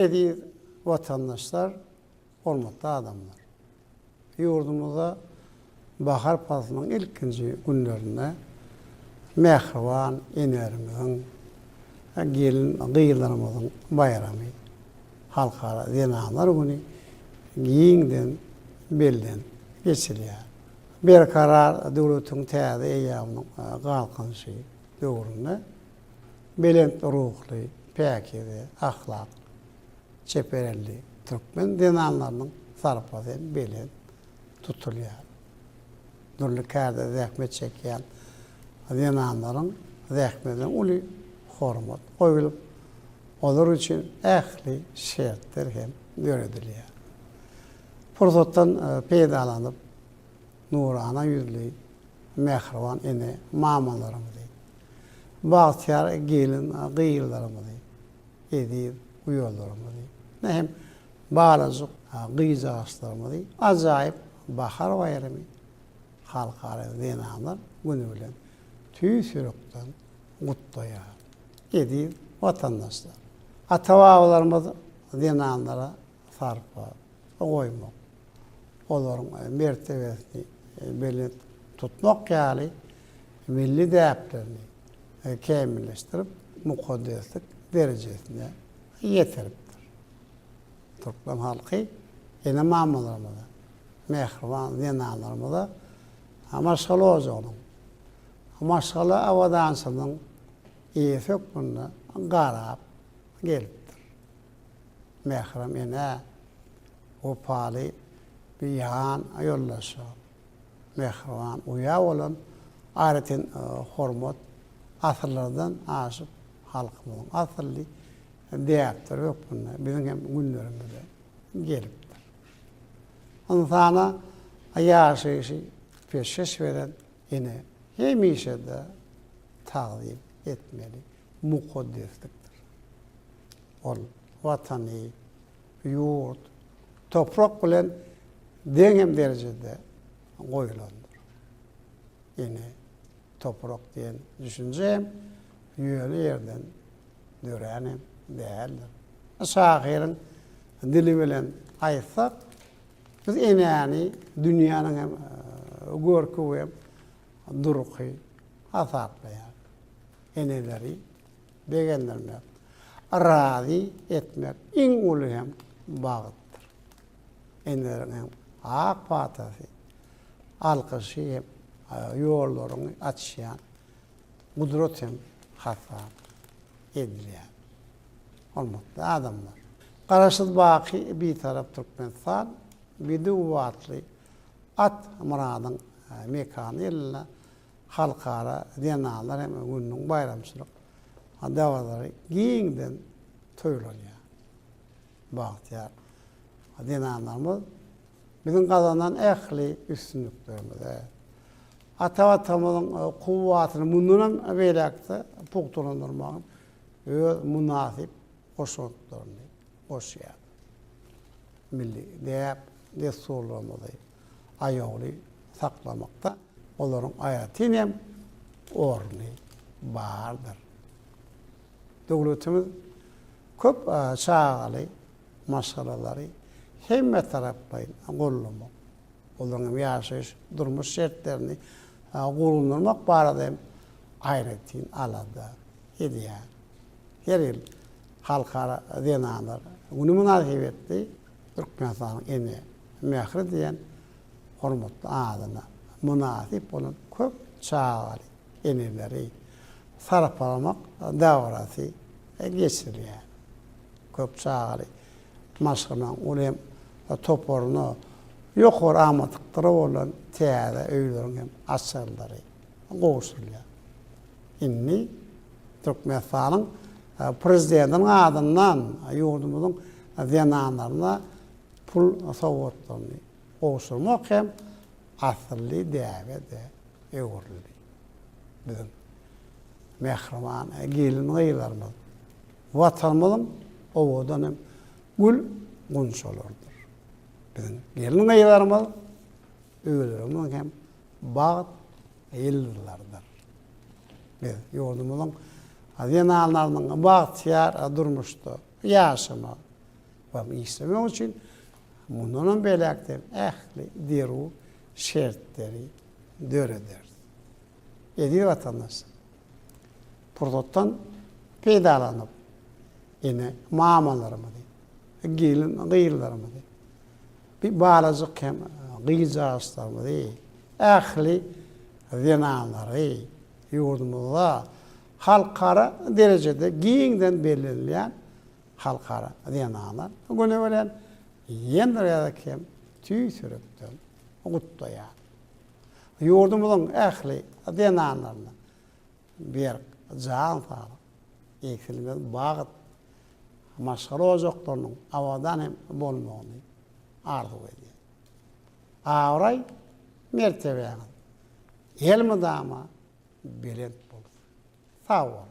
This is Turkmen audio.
Eziz watandaşlar, hormatly adamlar! Ýurdumyzda bahar paslynyň ilkinji günlerinde mähriban enelerimiziň, gelin-gyzlarymyzyň baýramy, Halkara zenanlar güni giňden bellenip geçilýär. Berkarar döwletiň täze eýýamynyň Galkynyşy döwründe, belent ruhly, päkize, ahlak, çeper elli türkmen zenanlarynyň sarpasy hem belent tutulýar. Dürli kärde zähmet çekýän zenanlaryň zähmetine uly hormat goýlup, olar üçin ähli şertler hem döredilýär. Pursatdan peýdalanyp, nurana ýüzli mähriban ene-mamalarymyzy bagtyýar gelin gyzlarymyzy, eziz uýalarymyzy, ine hem balajyk gyzjagaşlarymyzy ajaýyp bahar baýramy, Halkara zenanlar güni bilen tüýs ýürekden gutlaýaryn. Eziz watandaşlar! Ata-babalarymyz zenanlara sarpa goýmak, olaryň mertebesini belent tutmak ýaly milli däplerini kämilleşdirip, mukaddeslik derejesine ýetiripdir. Türkmen halky ene-mamalarymyza, mähriban zenanlarymyza maşgala ojagynyň, maşgala abadançylygynyň eýesi hökmünde garap gelipdir. mährem enä, wepaly bir ýan ýoldaşa, mähriban uýa bolan aýratyn hormat asyrlardan aşyp, halkymyzyň asylly däpleri hökmünde biziň hem günlerimize gelipdir. Ynsana ýaşaýşy peşgeş beren Ene hemişe-de tagzym etmeli mukaddeslikdir. Ol Watany, ýurt, toprak bilen deň hem derejede goýulandyr. Ene, toprak diýen düşünje hem ýöne ýerden dörän hem däldir. Şahyryň dili bilen aýtsak, Biz enäni dünýäniň hem görki we durky hasaplaýarys. Eneleri begendirmek, razy etmek iň uly hem bagtdyr. Eneleriň hem ak patasy, alkyşy hem ýollaryňy açýan gudrat hem hasap edilýär. Hormatly adamlar! Garaşsyz baky Bitarap Türkmenistan Bide Uwatly At Myradyň mekany ýylynda Halkara zenanlar hem gününiň baýramçylyk dabaralary giňden toýlanýar. Bagtyýar zenanlarymyz biziň gazanan ähli üstünliklerimize, Ata-batamyzyň kuwwatyny mundanam beýläk-de pugtalandyrmagyň öz mynasyp goşantlaryny goşýar. Milli däp-dessurlarymyzy aýawly saklamakda olaryň aýratyn hem orny bardyr. Döwletimiz köp çagaly maşgalalary hemmetaraplaýyn gollamak, olaryň hem ýaşaýyş, durmuş şertlerini gowulandyrmak barada hem aýratyn alada edýär. Her ýyl Halkara zenanlar güni mynasybetli Türkmenistanyň ene mähri diýen hormatly adyna mynasyp bolan köp çagaly eneleri sarpalamak dabarasy geçirilýär. Köp çagaly maşgalaň, ol hem toparyna ýokary amatlyklary bolan täze öýleriň hem açarlary gowşurylýar. Indi Türkmenistanyň Prezidentiniň adyndan ýurdumyzyň zenanlaryna pul sowgatlaryny gowşurmak hem asylly däbe-de öwrüldi. Biziň mähriban gelin-gyzlarymyz, Watanymyzyň owadan hem gül gunçalarydyr. Biziň gelin-gyzlarymyz öýlerimiziň hem bagt ýyldyzlarydyr. Biz ýurdumyzyň zenanlarynyň bagtyýar durmuşda ýaşamak we işlemek üçin mundan hem beýläk-de ähli zerur şertleri dörederis. Eziz watandaş, pursatdan peýdalanyp, ene, mamalarymyzy, gelin, gyzlarymyzy, bir balajyk hem gyzjagaşlarymyzy, ähli zenanlary ýurdumyzda halkara derejede giňden bellenilýän Halkara zenanar güni bilen ýene bir gezek hem tüýs ýürekden gutlaýaryn. Ýurdumyzyň ähli zenanlaryna berk jan saglyk, egsilmez bagt, maşgala ojaklarynyň abadan hem bolmagyny arzuw edýän. Abraý, mertebäňiz elmydama belent bolsun. Sag boluň!